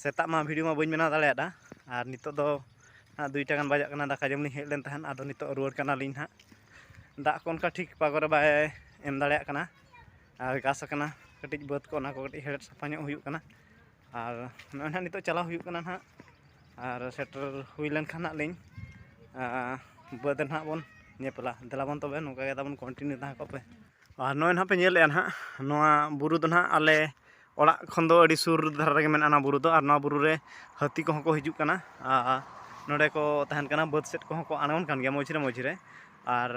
ᱥᱮᱛᱟᱜ ᱢᱟ ᱵᱷᱤᱰᱤᱭᱳ ᱢᱟ ᱵᱟᱹᱧ ᱵᱮᱱᱟᱣ ᱫᱟᱲᱮᱭᱟᱫᱟ ᱟᱨ ᱱᱤᱛᱚᱜ ᱫᱚ ᱦᱟᱸᱜ ᱫᱩᱭᱴᱟ ᱜᱟᱱ ᱵᱟᱡᱟᱜ ᱠᱟᱱᱟ ᱫᱟᱠᱟ ᱡᱚᱢ ᱞᱤᱧ ᱦᱮᱡ ᱞᱮᱱ ᱛᱟᱦᱮᱸᱫ ᱟᱫᱚ ᱱᱤᱛᱚᱜ ᱨᱩᱣᱟᱹᱲ ᱠᱟᱱᱟᱞᱤᱧ ᱦᱟᱸᱜ ᱫᱟᱜ ᱠᱚ ᱚᱱᱠᱟ ᱴᱷᱤᱠ ᱯᱟᱜᱚ ᱨᱮ ᱵᱟᱭ ᱮᱢ ᱫᱟᱲᱮᱭᱟᱜ ᱠᱟᱱᱟ ᱟᱨ ᱜᱷᱟᱥ ᱟᱠᱟᱱᱟ ᱠᱟᱹᱴᱤᱡ ᱵᱟᱹᱫᱽ ᱠᱚ ᱚᱱᱟ ᱠᱚ ᱠᱟᱹᱴᱤᱡ ᱦᱮᱲᱦᱮᱫ ᱥᱟᱯᱷᱟ ᱧᱚᱜ ᱦᱩᱭᱩᱜ ᱠᱟᱱᱟ ᱟᱨ ᱱᱚᱜᱼᱚᱭ ᱱᱟᱦᱟᱜ ᱱᱤᱛᱚᱜ ᱪᱟᱞᱟᱣ ᱦᱩᱭᱩᱜ ᱠᱟᱱᱟ ᱱᱟᱦᱟᱜ ᱟᱨ ᱥᱮᱴᱮᱨ ᱦᱩᱭ ᱞᱮᱱᱠᱷᱟᱱ ᱱᱟᱦᱟᱜ ᱞᱤᱧ ᱵᱟᱹᱫᱽ ᱨᱮ ᱱᱟᱦᱟᱜ ᱵᱚᱱ ᱧᱮᱯᱮᱞᱟ ᱫᱮᱞᱟ ᱵᱚᱱ ᱛᱚᱵᱮ ᱱᱚᱝᱠᱟ ᱜᱮ ᱛᱟᱵᱚᱱ ᱠᱚᱱᱴᱤᱱᱤᱭᱩ ᱛᱟᱦᱮᱸ ᱠᱚᱜ ᱯᱮ ᱟᱨ ᱱᱚᱜᱼᱚᱸᱭ ᱱᱟᱦᱟᱜ ᱯᱮ ᱧᱮᱞᱮᱜᱼᱟ ᱱᱟᱦᱟᱜ ᱱᱚᱣᱟ ᱵᱩᱨᱩ ᱫᱚ ᱱᱟᱦᱟᱜ ᱟᱞᱮ ᱚᱲᱟᱜ ᱠᱷᱚᱱ ᱫᱚ ᱟᱹᱰᱤ ᱥᱩᱨ ᱫᱷᱟᱨᱟ ᱨᱮᱜᱮ ᱢᱮᱱᱟᱜᱼᱟ ᱱᱚᱣᱟ ᱵᱩᱨᱩ ᱫᱚ ᱟᱨ ᱱᱚᱣᱟ ᱵᱩᱨᱩ ᱨᱮ ᱦᱟᱹᱛᱤ ᱠᱚᱦᱚᱸ ᱠᱚ ᱦᱤᱡᱩᱜ ᱠᱟᱱᱟ ᱟᱨ ᱱᱚᱰᱮ ᱠᱚ ᱛᱟᱦᱮᱱ ᱠᱟᱱᱟ ᱵᱟᱹᱫᱽ ᱥᱮᱫ ᱠᱚᱦᱚᱸ ᱠᱚ ᱟᱬᱜᱚᱱ ᱠᱟᱱ ᱜᱮᱭᱟ ᱢᱟᱹᱡᱷᱤ ᱨᱮ ᱢᱟᱹᱡᱷᱤ ᱨᱮ ᱟᱨ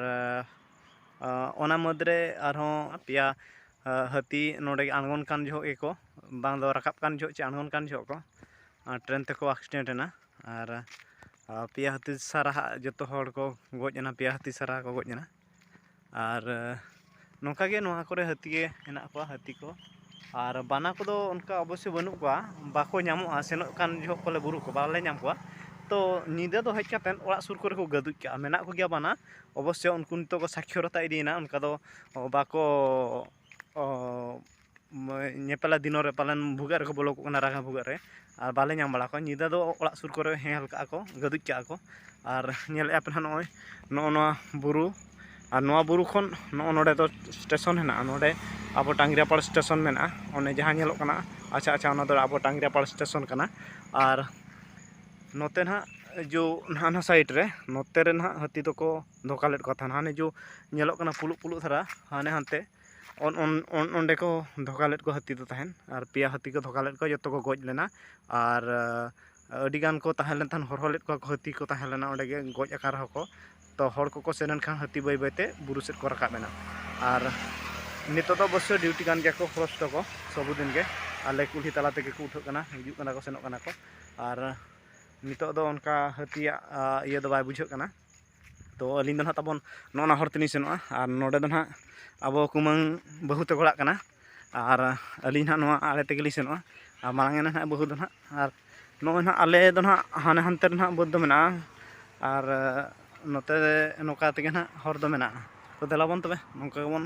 ᱚᱱᱟ ᱢᱩᱫᱽ ᱨᱮ ᱟᱨᱦᱚᱸ ᱯᱮᱭᱟ ᱦᱟᱹᱛᱤ ᱱᱚᱰᱮ ᱟᱬᱜᱚᱱ ᱠᱟᱱ ᱡᱚᱦᱚᱜ ᱜᱮᱠᱚ ᱵᱟᱝ ᱫᱚ ᱨᱟᱠᱟᱵ ᱠᱟᱱ ᱡᱚᱦᱚᱜ ᱪᱮ ᱟᱬᱜᱚᱱ ᱠᱟᱱ ᱡᱚᱦᱚᱜ ᱠᱚ ᱴᱨᱮᱱ ᱛᱮᱠᱚ ᱮᱠᱥᱤᱰᱮᱱᱴ ᱮᱱᱟ ᱟᱨ ᱯᱮᱭᱟ ᱦᱟᱹᱛᱤ ᱥᱟᱨᱦᱟᱣ ᱡᱚᱛᱚ ᱦᱚᱲ ᱠᱚ ᱜᱚᱡ ᱮᱱᱟ ᱯᱮᱭᱟ ᱦᱟᱹᱛᱤ ᱥᱟᱨᱟ ᱠᱚ ᱜᱚᱡ ᱮᱱᱟ ᱟᱨ ᱱᱚᱝᱠᱟ ᱜᱮ ᱱᱚᱣᱟ ᱠᱚᱨᱮ ᱦᱟᱹᱛᱤ ᱜᱮ ᱦᱮᱱᱟᱜ ᱠᱚᱣᱟ ᱦᱟᱹᱛᱤ ᱠᱚ ᱟᱨ ᱵᱟᱱᱟ ᱠᱚᱫᱚ ᱚᱱᱠᱟ ᱚᱵᱚᱥᱥᱳ ᱵᱟᱹᱱᱩᱜ ᱠᱚᱣᱟ ᱵᱟᱠᱚ ᱧᱟᱢᱚᱜᱼᱟ ᱥᱮᱱᱚᱜ ᱠᱟᱱ ᱡᱚᱦᱚᱜ ᱠᱚᱞᱮ ᱵᱩᱨᱩ ᱠᱚ ᱵᱟᱞᱮ ᱧᱟᱢ ᱠᱚᱣᱟ ᱛᱚ ᱧᱤᱫᱟᱹ ᱫᱚ ᱦᱮᱡ ᱠᱟᱛᱮᱫ ᱚᱲᱟᱜ ᱥᱩᱨ ᱠᱚᱨᱮ ᱠᱚ ᱜᱟᱹᱫᱩᱡ ᱠᱟᱜᱼᱟ ᱢᱮᱱᱟᱜ ᱠᱚᱜᱮᱭᱟ ᱵᱟᱱᱟ ᱚᱵᱚᱥᱥᱳ ᱩᱱᱠᱩ ᱱᱤᱛᱚᱜ ᱠᱚ ᱥᱟᱠᱷᱭᱚᱛᱟ ᱤᱫᱤᱭᱮᱱᱟ ᱚᱱᱠᱟ ᱫᱚ ᱵᱟᱠᱚ ᱚ ᱧᱮᱯᱮᱞᱟ ᱫᱤᱱᱚ ᱨᱮ ᱯᱟᱞᱮᱱ ᱵᱷᱩᱜᱟᱹᱜ ᱨᱮᱠᱚ ᱵᱚᱞᱚ ᱠᱚᱜ ᱠᱟᱱᱟ ᱨᱟᱸᱜᱟ ᱵᱷᱩᱜᱟᱹᱜ ᱨᱮ ᱟᱨ ᱵᱟᱞᱮ ᱧᱟᱢ ᱵᱟᱲᱟ ᱠᱚᱣᱟ ᱧᱤᱫᱟᱹ ᱫᱚ ᱚᱲᱟᱜ ᱥᱩᱨ ᱠᱚᱨᱮ ᱦᱮᱞ ᱠᱟᱜᱼᱟ ᱠᱚ ᱜᱟᱹᱫᱩᱡ ᱠᱟᱜᱼᱟ ᱠᱚ ᱟᱨ ᱧᱮᱞᱮᱜᱼᱟ ᱯᱮ ᱱᱟᱦᱟᱜ ᱱᱚᱜᱼᱚᱭ ᱱᱚᱜᱼᱚ ᱱᱚᱣᱟ ᱵᱩᱨᱩ ᱟᱨ ᱱᱚᱣᱟ ᱵᱩᱨᱩ ᱠᱷᱚᱱ ᱱᱚᱜᱼᱚ ᱱᱚᱰᱮ ᱫᱚ ᱥᱴᱮᱥᱚᱱ ᱦᱮᱱᱟᱜᱼᱟ ᱱᱚᱰᱮ ᱟᱵᱚ ᱴᱟᱸᱜᱽᱨᱟᱯᱟᱲ ᱥᱴᱮᱥᱚᱱ ᱢᱮᱱᱟᱜᱼᱟ ᱚᱱᱮ ᱡᱟᱦᱟᱸ ᱧᱮᱞᱚᱜ ᱠᱟᱱᱟ ᱟᱪᱪᱷᱟ ᱟᱪᱪᱷᱟ ᱚᱱᱟ ᱫᱚ ᱟᱵᱚ ᱴᱟᱸᱜᱽᱨᱟᱯᱟᱲ ᱥᱴᱮᱥᱚᱱ ᱠᱟᱱᱟ ᱟᱨ ᱱᱚᱛᱮ ᱱᱟᱦᱟᱜ ᱡᱳ ᱦᱟᱱᱟ ᱥᱟᱭᱤᱰ ᱨᱮ ᱱᱚᱛᱮ ᱨᱮ ᱱᱟᱦᱟᱜ ᱦᱟᱹᱛᱤ ᱫᱚᱠᱚ ᱫᱷᱚᱠᱟ ᱞᱮᱫ ᱠᱚᱣᱟ ᱛᱟᱦᱮᱱ ᱦᱟᱱᱮ ᱡᱚ ᱧᱮᱞᱚᱜ ᱠᱟᱱᱟ ᱯᱷᱩᱞᱩᱜ ᱯᱷᱩᱞᱩᱜ ᱫᱷᱟᱨᱟ ᱦᱟᱱᱮ ᱦᱟᱱᱛᱮ ᱚᱸᱰᱮ ᱠᱚ ᱫᱷᱚᱠᱟ ᱞᱮᱫ ᱠᱚᱣᱟ ᱦᱟᱹᱛᱤ ᱫᱚ ᱛᱟᱦᱮᱱ ᱟᱨ ᱯᱮᱭᱟ ᱦᱟᱹᱛᱤ ᱠᱚ ᱫᱷᱚᱠᱟ ᱞᱮᱫ ᱠᱚᱣᱟ ᱡᱚᱛᱚ ᱠᱚ ᱜᱚᱡ ᱞᱮᱱᱟ ᱟᱨ ᱟᱹᱰᱤ ᱜᱟᱱ ᱠᱚ ᱛᱟᱦᱮᱸ ᱞᱮᱱ ᱛᱟᱦᱮᱸᱫ ᱦᱚᱨᱦᱚ ᱞᱮᱫ ᱠᱚᱣᱟ ᱠᱚ ᱦᱟᱹᱛᱤ ᱠᱚ ᱛᱟᱦᱮᱸ ᱞᱮᱱᱟ ᱚᱸᱰᱮ ᱜᱮ ᱜᱚᱡ ᱟᱠᱟᱱ ᱨᱮᱦᱚᱸ ᱠᱚ ᱛᱚ ᱦᱚᱲ ᱠᱚᱠᱚ ᱥᱮᱱ ᱮᱱ ᱠᱷᱟᱱ ᱦᱟᱹᱛᱤ ᱵᱟᱹᱭ ᱵᱟᱹᱭ ᱛᱮ ᱵᱩᱨᱩ ᱥᱮᱫ ᱠᱚ ᱨᱟᱠᱟᱵ ᱮᱱᱟ ᱟᱨ ᱱᱤᱛᱚᱜ ᱫᱚ ᱚᱵᱚᱥᱥᱳᱭ ᱰᱤᱭᱩᱴᱤ ᱠᱟᱱ ᱜᱮᱭᱟ ᱠᱚ ᱯᱷᱚᱨᱮᱥᱴ ᱠᱚ ᱥᱚᱵᱽ ᱫᱤᱱ ᱜᱮ ᱟᱞᱮ ᱠᱩᱞᱦᱤ ᱛᱟᱞᱟ ᱛᱮᱜᱮ ᱠᱚ ᱩᱴᱷᱟᱹᱜ ᱠᱟᱱᱟ ᱦᱤᱡᱩᱜ ᱠᱟᱱᱟ ᱠᱚ ᱥᱮᱱᱚᱜ ᱠᱟᱱᱟ ᱠᱚ ᱟᱨ ᱱᱤᱛᱚᱜ ᱫᱚ ᱚᱱᱠᱟ ᱦᱟᱹᱛᱤᱭᱟᱜ ᱤᱭᱟᱹ ᱫᱚ ᱵᱟᱭ ᱵᱩᱡᱷᱟᱹᱜ ᱠᱟᱱᱟ ᱛᱚ ᱟᱹᱞᱤᱧ ᱫᱚ ᱱᱟᱦᱟᱜ ᱛᱟᱵᱚᱱ ᱱᱚᱜᱼᱚ ᱱᱟ ᱦᱚᱨ ᱛᱮᱞᱤᱧ ᱥᱮᱱᱚᱜᱼᱟ ᱟᱨ ᱱᱚᱰᱮ ᱫᱚ ᱱᱟᱦᱟᱜ ᱟᱵᱚ ᱠᱩᱢᱟᱹᱝ ᱵᱟᱹᱦᱩ ᱛᱟᱠᱚ ᱚᱲᱟᱜ ᱠᱟᱱᱟ ᱟᱨ ᱟᱹᱞᱤᱧ ᱱᱟᱦᱟᱜ ᱱᱚᱣᱟ ᱟᱲᱮ ᱛᱮᱜᱮᱞᱤᱧ ᱥᱮᱱᱚᱜᱼᱟ ᱟᱨ ᱢᱟᱲᱟᱝ ᱮᱱᱟᱭ ᱱᱟᱦᱟᱜ ᱵᱟᱹᱦᱩ ᱫᱚ ᱱᱟᱦᱟᱜ ᱟᱨ ᱱᱚᱜᱼᱚᱭ ᱱᱟᱦᱟᱜ ᱟᱞᱮ ᱫᱚ ᱱᱟᱦᱟᱜ ᱦᱟᱱᱮ ᱦᱟᱱᱛᱮ ᱨᱮ ᱱᱟᱦᱟᱜ ᱵᱟᱹᱫᱽ ᱫᱚ ᱢᱮᱱᱟᱜᱼᱟ ᱟᱨ ᱱᱚᱛᱮ ᱱᱚᱝᱠᱟ ᱛᱮᱜᱮ ᱱᱟᱦᱟᱜ ᱦᱚᱨ ᱫᱚ ᱢᱮᱱᱟᱜᱼᱟ ᱛᱚ ᱫᱮᱞᱟᱵᱚᱱ ᱛᱚᱵᱮ ᱱᱚᱝᱠᱟ ᱜᱮᱵᱚᱱ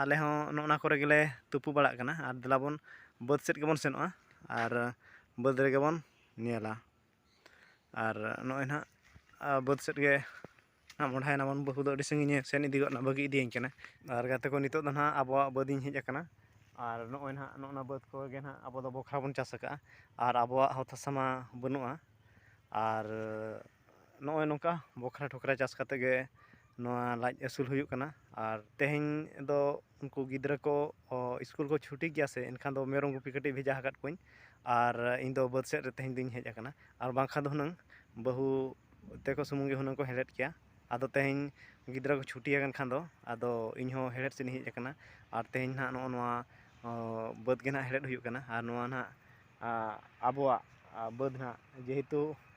ᱟᱞᱮ ᱦᱚᱸ ᱚᱱᱮ ᱚᱱᱟ ᱠᱚᱨᱮ ᱜᱮᱞᱮ ᱛᱩᱯᱩ ᱵᱟᱲᱟᱜ ᱠᱟᱱᱟ ᱟᱨ ᱫᱮᱞᱟ ᱵᱚᱱ ᱵᱟᱹᱫᱽ ᱥᱮᱫ ᱜᱮᱵᱚᱱ ᱥᱮᱱᱚᱜᱼᱟ ᱟᱨ ᱵᱟᱹᱫᱽ ᱨᱮᱜᱮ ᱵᱚᱱ ᱧᱮᱞᱟ ᱟᱨ ᱱᱚᱜᱼᱚᱸᱭ ᱱᱟᱦᱟᱜ ᱵᱟᱹᱫᱽ ᱥᱮᱫ ᱜᱮ ᱢᱚᱦᱰᱟᱭ ᱱᱟᱵᱚᱱ ᱵᱟᱹᱦᱩ ᱫᱚ ᱟᱹᱰᱤ ᱥᱟᱺᱜᱤᱧᱮ ᱥᱮᱱ ᱤᱫᱤ ᱜᱚᱫ ᱱᱟ ᱵᱟᱹᱜᱤ ᱤᱫᱤᱭᱟᱹᱧ ᱠᱟᱱᱟᱭ ᱟᱨ ᱜᱟᱛᱮ ᱠᱚ ᱱᱤᱛᱚᱜ ᱫᱚ ᱦᱟᱸᱜ ᱟᱵᱚᱣᱟᱜ ᱵᱟᱹᱫᱽ ᱤᱧ ᱦᱮᱡ ᱠᱟᱱᱟ ᱟᱨ ᱱᱚᱜᱼᱚᱸᱭ ᱱᱟᱦᱟᱜ ᱱᱚᱜᱼᱚᱸᱭ ᱱᱟ ᱵᱟᱹᱫᱽ ᱠᱚᱜᱮ ᱦᱟᱸᱜ ᱟᱵᱚ ᱫᱚ ᱵᱚᱠᱷᱨᱟ ᱵᱚᱱ ᱪᱟᱥ ᱠᱟᱜᱼᱟ ᱟᱨ ᱟᱵᱚᱣᱟᱜ ᱚᱛ ᱦᱟᱥᱟ ᱢᱟ ᱵᱟᱹᱱᱩᱜᱼᱟ ᱟᱨ ᱱᱚᱜᱼᱚᱭ ᱱᱚᱝᱠᱟ ᱵᱚᱠᱷᱨᱟ ᱴᱷᱚᱠᱨᱟ ᱪᱟᱥ ᱠᱟᱛᱮᱫ ᱜᱮ ᱱᱚᱣᱟ ᱞᱟᱡ ᱟᱹᱥᱩᱞ ᱦᱩᱭᱩᱜ ᱠᱟᱱᱟ ᱟᱨ ᱛᱮᱦᱮᱧ ᱫᱚ ᱩᱱᱠᱩ ᱜᱤᱫᱽᱨᱟᱹ ᱠᱚ ᱥᱠᱩᱞ ᱠᱚ ᱪᱷᱩᱴᱤ ᱜᱮᱭᱟ ᱥᱮ ᱮᱱᱠᱷᱟᱱ ᱫᱚ ᱢᱮᱨᱚᱢ ᱜᱩᱯᱤ ᱠᱟᱹᱴᱤᱡ ᱵᱷᱮᱡᱟ ᱟᱠᱟᱫ ᱠᱚᱣᱟᱧ ᱟᱨ ᱤᱧ ᱫᱚ ᱵᱟᱹᱫᱽ ᱥᱮᱫ ᱨᱮ ᱛᱮᱦᱮᱧ ᱫᱚᱧ ᱦᱮᱡ ᱟᱠᱟᱱᱟ ᱟᱨ ᱵᱟᱝᱠᱷᱟᱱ ᱫᱚ ᱦᱩᱱᱟᱹᱝ ᱵᱟᱹᱦᱩ ᱛᱟᱠᱚ ᱥᱩᱢᱩᱝ ᱜᱮ ᱦᱩᱱᱟᱹᱝ ᱠᱚ ᱦᱮᱲᱦᱮᱫ ᱠᱮᱭᱟ ᱟᱫᱚ ᱛᱮᱦᱮᱧ ᱜᱤᱫᱽᱨᱟᱹ ᱠᱚ ᱪᱷᱩᱴᱤ ᱟᱠᱟᱱ ᱠᱷᱟᱱ ᱫᱚ ᱟᱫᱚ ᱤᱧ ᱦᱚᱸ ᱦᱮᱲᱦᱮᱫ ᱥᱮᱫ ᱤᱧ ᱦᱮᱡ ᱟᱠᱟᱱᱟ ᱟᱨ ᱛᱮᱦᱮᱧ ᱦᱟᱸᱜ ᱱᱚᱜᱼᱚ ᱱᱚᱣᱟ ᱵᱟᱹᱫᱽ ᱜᱮ ᱦᱟᱸᱜ ᱦᱮᱲᱦᱮᱫ ᱦᱩᱭᱩᱜ ᱠᱟᱱᱟ ᱟᱨ ᱱᱚᱣᱟ ᱦᱟᱸᱜ ᱟᱵᱚᱣᱟᱜ ᱵᱟᱹᱫᱽ ᱦᱟᱸᱜ ᱡᱮᱦᱮᱛᱩ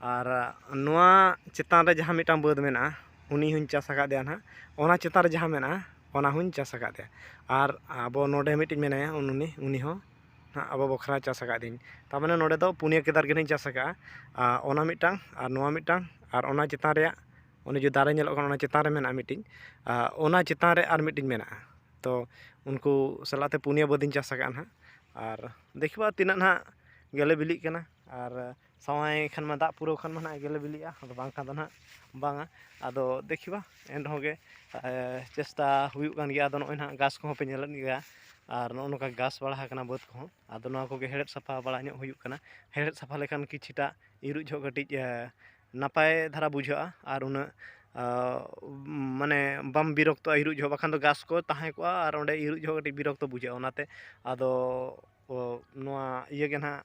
ᱟᱨ ᱱᱚᱣᱟ ᱪᱮᱛᱟᱱ ᱨᱮ ᱡᱟᱦᱟᱸ ᱢᱤᱫᱴᱟᱝ ᱵᱟᱹᱫᱽ ᱢᱮᱱᱟᱜᱼᱟ ᱩᱱᱤ ᱦᱚᱸᱧ ᱪᱟᱥ ᱟᱠᱟᱫᱮᱭᱟ ᱱᱟᱦᱟᱜ ᱚᱱᱟ ᱪᱮᱛᱟᱱ ᱨᱮ ᱡᱟᱦᱟᱸ ᱢᱮᱱᱟᱜᱼᱟ ᱚᱱᱟ ᱦᱚᱸᱧ ᱪᱟᱥ ᱟᱠᱟᱫᱮᱭᱟ ᱟᱨ ᱟᱵᱚ ᱱᱚᱰᱮ ᱢᱤᱫᱴᱤᱡ ᱢᱮᱱᱟᱭᱟ ᱩᱱᱩᱱᱤ ᱩᱱᱤ ᱦᱚᱸ ᱱᱟᱦᱟᱜ ᱟᱵᱚ ᱵᱟᱠᱷᱨᱟ ᱪᱟᱥ ᱟᱠᱟᱫᱮᱭᱟᱹᱧ ᱛᱟᱨᱢᱟᱱᱮ ᱱᱚᱰᱮ ᱫᱚ ᱯᱩᱱᱭᱟᱹ ᱠᱮᱫᱟᱨ ᱜᱮ ᱱᱟᱦᱟᱜ ᱤᱧ ᱪᱟᱥ ᱟᱠᱟᱫᱼᱟ ᱟᱨ ᱚᱱᱟ ᱢᱤᱫᱴᱟᱝ ᱟᱨ ᱱᱚᱣᱟ ᱢᱤᱫᱴᱟᱝ ᱟᱨ ᱚᱱᱟ ᱪᱮᱛᱟᱱ ᱨᱮᱭᱟᱜ ᱚᱱᱮ ᱡᱮ ᱫᱟᱨᱮ ᱧᱮᱞᱚᱜ ᱠᱟᱱᱟ ᱚᱱᱟ ᱪᱮᱛᱟᱱ ᱨᱮ ᱢᱮᱱᱟᱜᱼᱟ ᱢᱤᱫᱴᱤᱡ ᱟᱨ ᱚᱱᱟ ᱪᱮᱛᱟᱱ ᱨᱮ ᱟᱨ ᱢᱤᱫᱴᱤᱡ ᱢᱮᱱᱟᱜᱼᱟ ᱛᱚ ᱩᱱᱠᱩ ᱥᱟᱞᱟᱜ ᱛᱮ ᱯᱩᱱᱭᱟᱹ ᱵᱟᱹᱫᱽ ᱤᱧ ᱪᱟᱥ ᱟᱠᱟᱫᱼᱟ ᱱᱟᱦᱟᱜ ᱟᱨ ᱫᱮᱠᱷᱤ ᱵᱟ ᱛᱤᱱᱟᱹᱜ ᱱᱟᱦᱟᱜ ᱜᱮᱞᱮ ᱵᱤᱞᱤᱜ ᱠᱟᱱᱟ ᱟᱨ ᱥᱟᱶᱟᱭ ᱠᱷᱟᱱ ᱢᱟ ᱫᱟᱜ ᱯᱩᱨᱟᱹᱣ ᱠᱷᱟᱱ ᱢᱟ ᱱᱟᱦᱟᱜ ᱜᱮᱞᱮ ᱵᱤᱞᱤᱜᱼᱟ ᱟᱫᱚ ᱵᱟᱝᱠᱷᱟᱱ ᱫᱚ ᱱᱟᱦᱟᱜ ᱵᱟᱝᱟ ᱟᱫᱚ ᱫᱮᱠᱷᱤ ᱵᱟ ᱮᱱ ᱨᱮᱦᱚᱸ ᱜᱮ ᱪᱮᱥᱴᱟ ᱦᱩᱭᱩᱜ ᱠᱟᱱ ᱜᱮᱭᱟ ᱟᱫᱚ ᱱᱚᱜᱼᱚᱭ ᱱᱟᱦᱟᱜ ᱜᱷᱟᱥ ᱠᱚᱦᱚᱸ ᱯᱮ ᱧᱮᱞᱮᱫ ᱜᱮᱭᱟ ᱟᱨ ᱱᱚᱜᱼᱚ ᱱᱚᱝᱠᱟ ᱜᱷᱟᱥ ᱵᱟᱲᱟ ᱟᱠᱟᱱᱟ ᱵᱟᱹᱫᱽ ᱠᱚᱦᱚᱸ ᱟᱫᱚ ᱱᱚᱣᱟ ᱠᱚᱜᱮ ᱦᱮᱲᱦᱮᱫ ᱥᱟᱯᱷᱟ ᱵᱟᱲᱟ ᱧᱚᱜ ᱦᱩᱭᱩᱜ ᱠᱟᱱᱟ ᱦᱮᱲᱦᱮᱫ ᱥᱟᱯᱷᱟ ᱞᱮᱠᱷᱟᱱ ᱠᱤᱪᱷᱩᱴᱟ ᱤᱨᱚᱜ ᱡᱚᱦᱚᱜ ᱠᱟᱹᱴᱤᱡ ᱱᱟᱯᱟᱭ ᱫᱷᱟᱨᱟ ᱵᱩᱡᱷᱟᱹᱜᱼᱟ ᱟᱨ ᱩᱱᱟᱹᱜ ᱢᱟᱱᱮ ᱵᱟᱢ ᱵᱤᱨᱚᱠᱛᱚᱜᱼᱟ ᱤᱨᱚᱜ ᱡᱚᱦᱚᱜ ᱵᱟᱠᱷᱟᱱ ᱫᱚ ᱜᱷᱟᱥ ᱠᱚ ᱛᱟᱦᱮᱸ ᱠᱚᱜᱼᱟ ᱟᱨ ᱚᱸᱰᱮ ᱤᱨᱚᱜ ᱡᱚᱦᱚᱜ ᱠᱟᱹᱴᱤᱡ ᱵᱤᱨᱚᱠᱛᱚ ᱵᱩᱡᱷᱟᱹᱜᱼᱟ ᱚᱱᱟᱛᱮ ᱟᱫᱚ ᱱᱚᱣᱟ ᱤᱭᱟᱹ ᱜᱮ ᱱᱟᱦᱟᱜ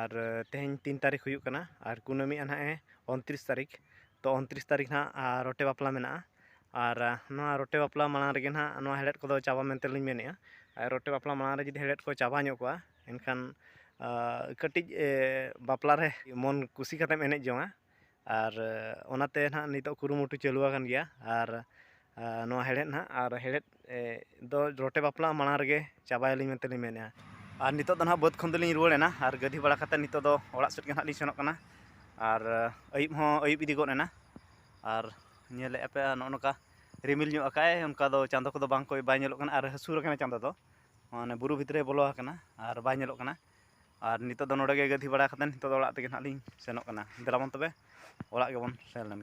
ᱟᱨ ᱛᱮᱦᱮᱧ ᱛᱤᱱ ᱛᱟᱹᱨᱤᱠᱷ ᱦᱩᱭᱩᱜ ᱠᱟᱱᱟ ᱟᱨ ᱠᱩᱱᱟᱹᱢᱤᱜᱼᱟ ᱱᱟᱦᱟᱜ ᱮ ᱩᱱᱛᱨᱤᱥ ᱛᱟᱹᱨᱤᱠᱷ ᱛᱚ ᱩᱱᱛᱨᱤᱥ ᱛᱟᱹᱨᱤᱠᱷ ᱱᱟᱦᱟᱜ ᱨᱚᱴᱮ ᱵᱟᱯᱞᱟ ᱢᱮᱱᱟᱜᱼᱟ ᱟᱨ ᱱᱚᱣᱟ ᱨᱚᱴᱮ ᱵᱟᱯᱞᱟ ᱢᱟᱲᱟᱝ ᱨᱮᱜᱮ ᱱᱟᱦᱟᱜ ᱱᱚᱣᱟ ᱦᱮᱲᱦᱮᱫ ᱠᱚᱫᱚ ᱪᱟᱵᱟ ᱢᱮᱱᱛᱮ ᱞᱤᱧ ᱢᱮᱱᱮᱜᱼᱟ ᱟᱨ ᱨᱚᱴᱮ ᱵᱟᱯᱞᱟ ᱢᱟᱲᱟᱝ ᱨᱮ ᱡᱩᱫᱤ ᱦᱮᱲᱦᱮᱫ ᱠᱚ ᱪᱟᱵᱟ ᱧᱚᱜ ᱠᱚᱜᱼᱟ ᱮᱱᱠᱷᱟᱱ ᱠᱟᱹᱴᱤᱡ ᱵᱟᱯᱞᱟ ᱨᱮ ᱢᱚᱱ ᱠᱩᱥᱤ ᱠᱟᱛᱮᱢ ᱮᱱᱮᱡ ᱡᱚᱝᱟ ᱟᱨ ᱚᱱᱟᱛᱮ ᱱᱟᱦᱟᱜ ᱱᱤᱛᱚᱜ ᱠᱩᱨᱩᱢᱩᱴᱩ ᱪᱟᱹᱞᱩ ᱟᱠᱟᱱ ᱜᱮᱭᱟ ᱟᱨ ᱱᱚᱣᱟ ᱦᱮᱲᱦᱮᱫ ᱱᱟᱦᱟᱜ ᱟᱨ ᱦᱮᱲᱦᱮᱫ ᱫᱚ ᱨᱚᱴᱮ ᱵᱟᱯᱞᱟ ᱢᱟᱲᱟᱝ ᱨᱮᱜᱮ ᱪᱟᱵᱟᱭᱟᱞᱤ ᱢᱮᱱᱛᱮ ᱞᱤᱧ ᱢᱮᱱᱮᱜᱼᱟ ᱟᱨ ᱱᱤᱛᱚᱜ ᱫᱚ ᱱᱟᱦᱟᱜ ᱵᱟᱹᱫᱽ ᱠᱷᱚᱱ ᱫᱚᱞᱤᱧ ᱨᱩᱣᱟᱹᱲ ᱮᱱᱟ ᱟᱨ ᱜᱟᱹᱫᱷᱤ ᱵᱟᱲᱟ ᱠᱟᱛᱮᱫ ᱱᱤᱛᱚᱜ ᱫᱚ ᱚᱲᱟᱜ ᱥᱮᱫ ᱜᱮ ᱱᱟᱦᱟᱜ ᱞᱤᱧ ᱥᱮᱱᱚᱜ ᱠᱟᱱᱟ ᱟᱨ ᱟᱹᱭᱩᱵ ᱦᱚᱸ ᱟᱹᱭᱩᱵ ᱤᱫᱤ ᱜᱚᱫ ᱮᱱᱟ ᱟᱨ ᱧᱮᱞᱮᱜᱼᱟ ᱯᱮ ᱱᱚᱜᱼᱚ ᱱᱚᱝᱠᱟ ᱨᱤᱢᱤᱞ ᱧᱚᱜ ᱟᱠᱟᱫ ᱟᱭ ᱚᱱᱠᱟ ᱫᱚ ᱪᱟᱸᱫᱚ ᱠᱚᱫᱚ ᱵᱟᱝ ᱠᱚ ᱵᱟᱭ ᱧᱮᱞᱚᱜ ᱠᱟᱱᱟ ᱟᱨ ᱦᱟᱹᱥᱩᱨ ᱟᱠᱟᱱᱟᱭ ᱪᱟᱸᱫᱚ ᱫᱚ ᱢᱟᱱᱮ ᱵᱩᱨᱩ ᱵᱷᱤᱛᱨᱤ ᱵᱚᱞᱚ ᱟᱠᱟᱱᱟ ᱟᱨ ᱵᱟᱭ ᱧᱮᱞᱚᱜ ᱠᱟᱱᱟ ᱟᱨ ᱱᱤᱛᱚᱜ ᱫᱚ ᱱᱚᱰᱮ ᱜᱮ ᱜᱟᱹᱫᱷᱤ ᱵᱟᱲᱟ ᱠᱟᱛᱮᱫ ᱱᱤᱛᱚᱜ ᱫᱚ ᱚᱲᱟᱜ ᱛᱮᱜᱮ ᱱᱟᱦᱟᱜ ᱞᱤᱧ ᱥᱮᱱᱚᱜ ᱠᱟᱱᱟ ᱫᱮᱞᱟᱵᱚᱱ ᱛᱚᱵᱮ ᱚᱲᱟᱜ ᱜᱮᱵᱚᱱ ᱥᱮᱱ ᱞᱮᱱᱜᱮ